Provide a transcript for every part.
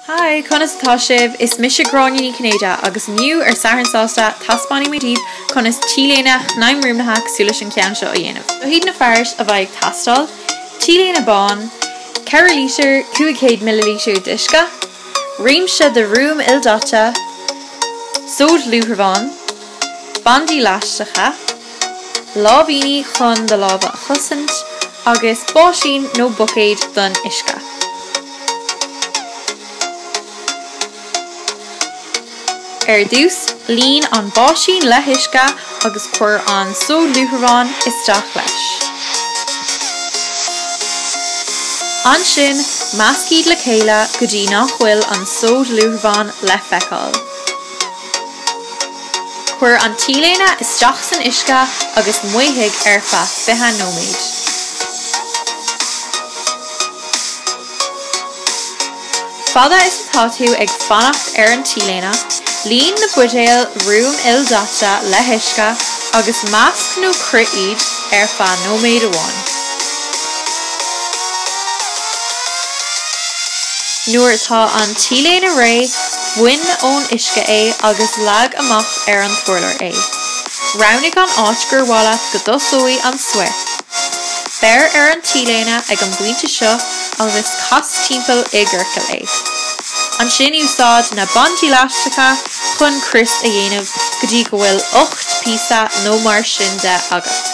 Haigh, conas atá sibh? Is mise Gráinne Ní Chinnéide agus inniu, ar Satharn Sásta, taispeánfaidh mé daoibh conas T-léine shnaidhmruaimnithe cosúil leis an gceann seo a dhéanamh. Seo hiad na fearais a bheidh ag teastáil, T-léine bán, 4 lítear, 500 millilítear d'uisce, réimse de ruaim ildaite, sóid luaithreamháin, bandaí leaisteacha, láimhíní chun do lámha a chosaint, agus báisín nó buicéad don uisce. Ar dtús, líon an báisín le huisce agus cuir an sóid luaithreamháin isteach leis. Ansin, measc iad le chéile go dtí nach bhfuil an sóid luaithreamháin le feiceáil. Cuir an T-léine isteach san uisce agus maothaigh ar feadh 20 nóiméad. Fada is atá tú ag fanacht ar an T-léine, líon na buidéil ruaim ildaite le huisce agus measc nó croith iad ar feadh nóiméad amháin. Nuair atá an T-léine réidh, Bain ón uisce é agus leag amach ar an t-urlár é. Roghnaigh an áit gur mhaith leat go dtosóidh an swirl. Beir ar an T-léine ag an bpointe seo agus cas timpeall i gciorcal é. Ansin úsáid na bandaí leaisteacha chun crios a dhéanamh go dtí go bhfuil 8 píosa nó mar sin de agat.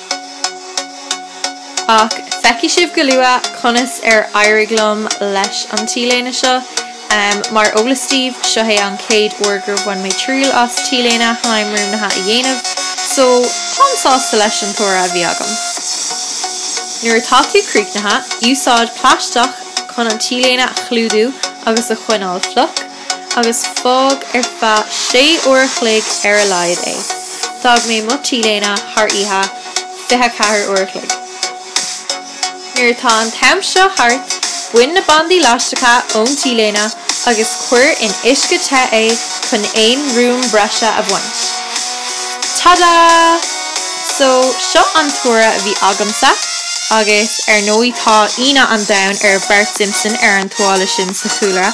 Ach feicfidh sibh go luath conas ar éirigh liom leis an T-léine seo. Mar eolas daoibh, seo é an chéad uair gur bhain mé triail as T-léine shnaidhmruaimnithe a dhéanamh, só táim sásta leis an toradh a bhí agam. Nuair atá tú críochnaithe, úsáid plaisteach chun an T-léine a chlúdú agus a choinneáil fliuch. agus fág ar feadh sé uair a chloig ar a laghad é. D'fhág mé mo T-léine thar oíche, fiche ceathair uair a chloig. Nuair atá an t-am seo thart, bain na bandaí leaisteacha ón T-léine agus cuir in uisce te é chun aon ruaim breise a bhaint. Tada! So, seo an toradh a bhí agamsa, agus ar ndóigh tá ionadh an domhain ar Bart Simpson ar an tuáille sin sa chúlra.